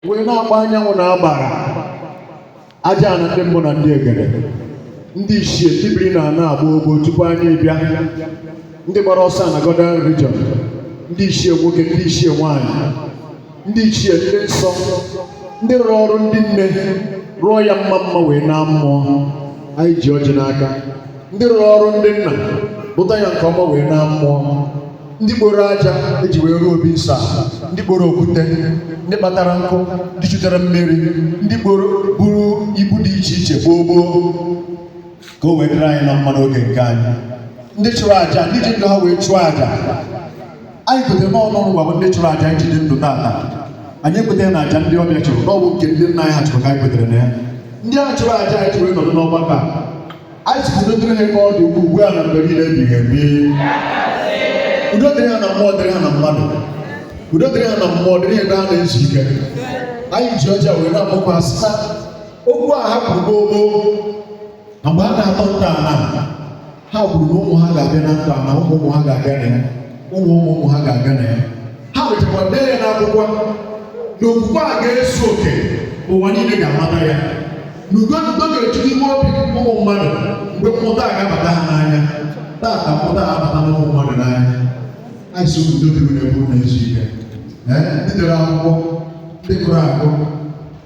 wee na-agba anyanwụ na agbara aja ana ndị mbụ na ndị egede ndị ichie ndị biri na ana a gboo gboo tupu anyị abịa ndị gbara ọsọ na Godian religion ndị ichie nwoke ndị ichie nwanyị ndị ichie ndị nsọ ndị rụrụ ọrụ ndị nne rụọ ya mma mma wee naa mmụọ anyị ji ọjị n'aka ndị rụrụ ọrụ ndị nna rụta ya nke ọma wee naa mmụọ ndị kporo aja eji wee rụọ obi nsọ ndị kporo okwute ndị kpatara nkụ ndị chutere mmiri ndị kporo buru ibu dị iche iche gboo gboo ka o wee dịrị anyị na mma n'oge nke anyị ndị chụrụ aja ndị ji ndụ ha wee chụọ aja anyị kwetara n'ọnụ ọrụ gwa ndị chụrụ aja eji dị ndụ taata anyị ekwetarọ na aja ndị ọbịa chụrụ na ọ bụ nke ndị nna anyị ha chụrụ ka anyị kwetara na ya ndị a chụrụ aja anyị ji wee nọdụ n'ọgbakọ a anyị sị ka udo dịrị ha ka ọ dị ugbu a na mgbe niile ebighị ebi udo dịrị ha na mmụọ dịrị ha na mmadụ udo dịrị ha na mmụọ dịrị ha ebe ha na-ezu ike anyị ji ọjị a wee na-akpọku ha sị ha okwu a ha kwuru gboo na mgbe ha na-atọ ntọana ha kwuru na ụmụ ha ga-abịa na ntọana ụmụ ụmụ ha ga-abịa na ya ụmụ ụmụ ụmụ ha ga-abịa na ya ha mechakwa dee ya n'akwụkwọ na okwukwe a ga-ezu oke ụwa niile ga-amata ya na ugo na ugo ga-eju n'ime obi ụmụ mmadụ mgbe mmụta a ga-abata ha n'anya taata mmụta a abata na ụmụ mmadụ n'anya anyị sị unu udo dịrị unu ebe unu na-ezu ike ndị dere akwụkwọ ndị gụrụ agụ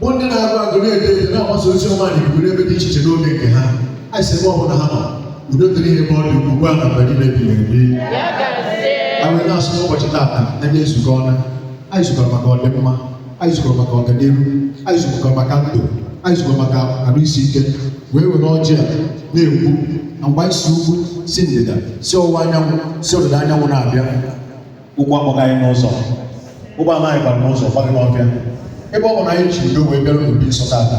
bụ ndị na-agụ agụ na-ede ede na-agbasa ozi ọma na ikuku n'ebe dị iche iche n'oge nke ha anyị sị ebe ọ bụla ha nọ udo dịrị ha ebe ọ dị ugbu a na mgbe niile ebighị ebi anyị na-asị n'ụbọchị taata anyị ezukọọna anyị zukọrọ maka ọdịmma anyị zukọrọ maka ọganihu anyị zukọrọ maka ndụ anyị zukọrọ maka arụ isi ike wee were ọjị a na-ekwu na mgbe anyị si ugwu si ndịda si ọwụwa anyanwụ si ọdịda anyanwụ na-abịa ụgbọ akpọghị anyị n'ụzọ ụgbọ ana anyị gbara n'ụzọ agbaghị n'ọhịa ebe ọ bụ na anyị ji udo wee bịara n'obi nsọ taata